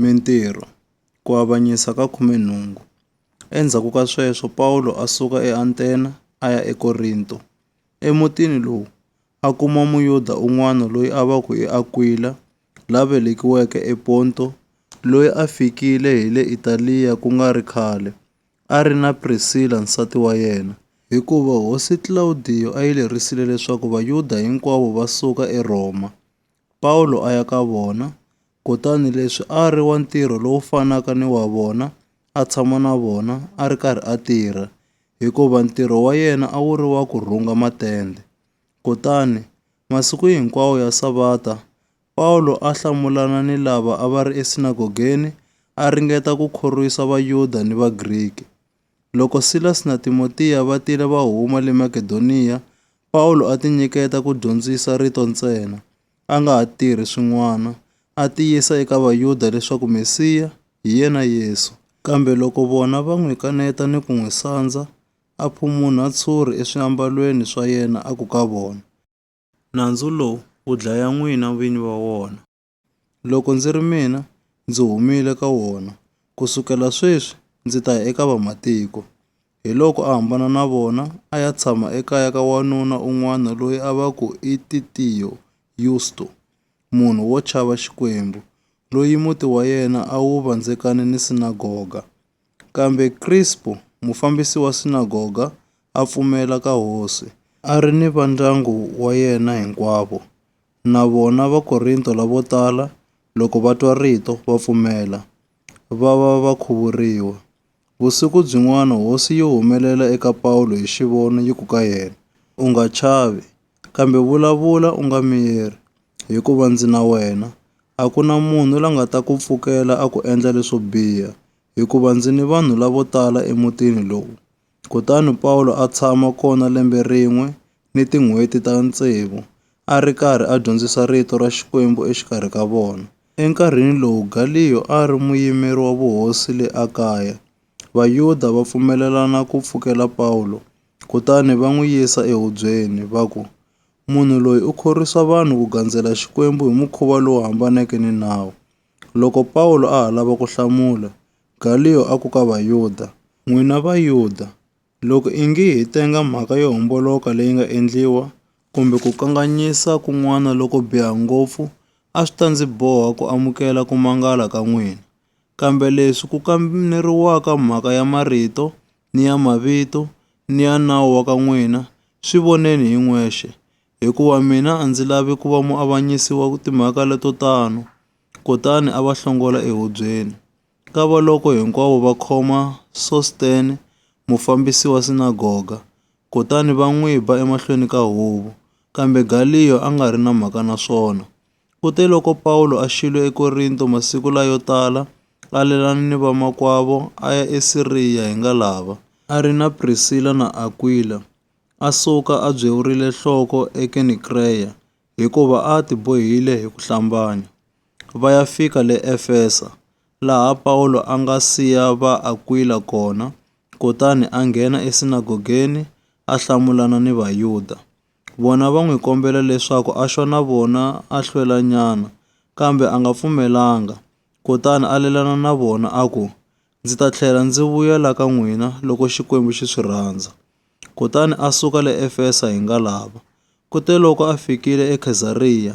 Mintirho, Ku avanyisa ka khume nhungu. Endzhaku ka sweswo Pawulo a suka eAntena a ya eKorinto. Emutini lowu a kuma Muyuda un'wana loyi a va ku i Akwila la velekiweke ePonto loyi a fikile hi le Italiya ku nga ri khale a ri na Prisila nsati wa yena. Hikuva hosi Klawudiyo a yi lerisile leswaku Vayuda hinkwavo va suka eRhoma, Pawulo a ya ka vona, kutani leswi a ri wa ntirho lowu fanaka ni wa vona, a tshama na vona a ri karhi a tirha, hikuva ntirho wa yena a wu ri wa ku rhunga matende. Kutani, masiku hinkwawo ya Savata, Pawulo a hlamulana ni lava a va ri esinagogeni a ringeta ku khorwisa Vayuda ni Vagriki. Loko Silasi na Timotiya va tile va huma le Makedoniya, Pawulo a tinyiketa ku dyondzisa rito ntsena, a nga ha tirhi swin'wana, a tiyisa eka Vayuda leswaku Mesiya hi yena Yesu. Kambe loko vona va n'wi kaneta ni ku n'wi sandza, a phumunha tshuri eswiambalweni swa yena a ku ka vona, Nandzu lowu wu dlaya n'wina vini va wona. Loko ndzi ri mina, ndzi humile ka wona. Ku sukela sweswi ndzi ta ya eka vamatiko. Hiloko a hambana na vona a ya tshama ekaya ka wanuna un'wana loyi a va ku i Titiyo Yusto, munhu wo chava Xikwembu, loyi muti wa yena a wu vandzekane ni sinagoga. Kambe Krispo, mufambisi wa sinagoga, a pfumela ka hosi, a ri ni vandyangu wa yena hinkwavo. Na vona Vakorinto lavo tala, loko va twa rito, va pfumela, va va va khuvuriwa. Vusiku byin'wana hosi yi humelela eka Pawulo hi xivono yi ku ka yena, U nga chavi, kambe vulavula u nga miyeri. Hikuva ndzi na wena, a ku na munhu la nga ta ku pfukela a ku endla leswo biha, hikuva ndzi ni vanhu lavo tala emutini lowu. Kutani Pawulo a tshama kona lembe rin'we ni tin'hweti ta tsevu, a ri karhi a dyondzisa rito ra Xikwembu exikarhi ka vona. Enkarhini lowu Galiyo a ri muyimeri wa vuhosi le Akaya, Vayuda va pfumelelana ku pfukela Pawulo, kutani va n'wi yisa ehubyeni, va ku, Munhu loyi u khorwisa vanhu ku gandzela Xikwembu hi mukhuva lowu hambaneke ni nawu. Loko Pawulo a ha lava ku hlamula, Galiyo a ku ka Vayuda, N'wina Vayuda, loko ingi hi tenga mhaka yo homboloka leyi nga endliwa, kumbe ku kanganyisa kun'wana loko biha ngopfu, a swi ta ndzi boha ku amukela ku mangala ka n'wina. Kambe leswi ku kameriwaka mhaka ya marito, ni ya mavito ni ya nawu wa ka n'wina, swi voneni hi n'wexe, hikuva mina a ndzi lavi ku va muavanyisi wa timhaka leto tano. Kutani a va hlongola ehubyeni. Kavaloko hinkwavo va khoma Sostene, mufambisi wa sinagoga, kutani va n'wi ba emahlweni ka huvo, kambe Galiyo a nga ri na mhaka na swona. Kuteloko Pawulo a xile eKorinto, masiku layo tala a lelana ni vamakwavo a ya eSiriya hi nga lava. A ri na Prisila na Akwila, a suka a byewurile nhloko eKenikreya, hikuva a a tibohile hi ku hlambanya, va ya fika le Efesa, laha Pawulo a nga siya va Akwila kona, kutani a nghena esinagogeni a hlamulana ni Vayuda. Vona va n'wi kombela leswaku a xwa na vona a hlwelanyana, kambe a nga pfumelanga. Kutani a lelana na vona a ku, Ndzi ta tlhela ndzi vuya la ka n'wina loko Xikwembu xi swi rhandza. Kutani a suka le Efesa hi ngalava. Kuteloko a fikile eKhezariya,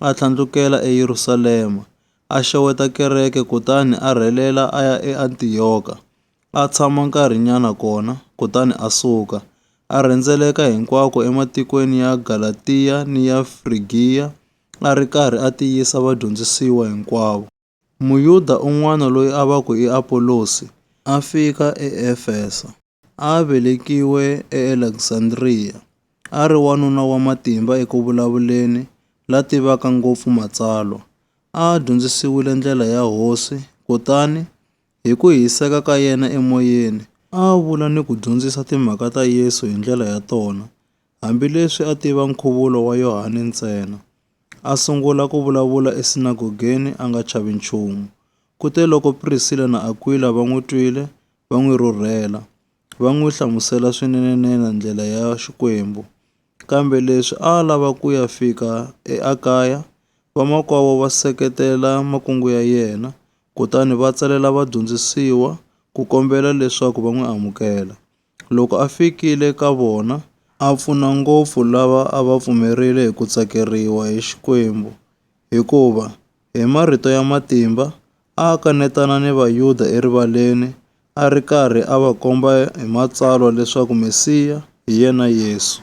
a tlhandlukela eYerusalema, a xeweta kereke kutani a rhelela a ya eAntiyoka. a tshama nkarhinyana kona, kutani a suka, a rhendzeleka hinkwako ematikweni ya Galatiya ni ya Frigiya, a ri karhi a tiyisa vadyondzisiwa hinkwavo. Muyuda un'wana loyi a va ku i Apolosi a fika eEfeso. A a velekiwe eAleksandriya, a ri wanuna wa matimba eku vulavuleni, la tivaka ngopfu Matsalwa. A a dyondzisiwile ndlela ya Hosi, kutani Hi ku hiseka ka yena emoyeni, a a vula ni ku dyondzisa timhaka ta Yesu hi ndlela ya tona, hambileswi a tiva nkhuvulo wa Yohane ntsena. A sungula ku vulavula esinagogeni a nga chavi nchumu. Kuteloko Prisila na Akwila va n'wi twile, va n'wi rhurhela. va n'wi hlamusela swinene-nene ndlela ya Xikwembu. Kambe leswi a a lava ku ya fika eAkaya, vamakwavo va seketela makungu ya yena, kutani va tsalela vadyondzisiwa ku kombela leswaku va n'wi amukela. Loko a fikile ka vona, a pfuna ngopfu lava a va pfumerile hi ku tsakeriwa hi Xikwembu, hikuva hi marito ya matimba a a kanetana ni Vayuda erivaleni, a ri karhi a va komba hi Matsalwa leswaku Mesiya hi yena Yesu.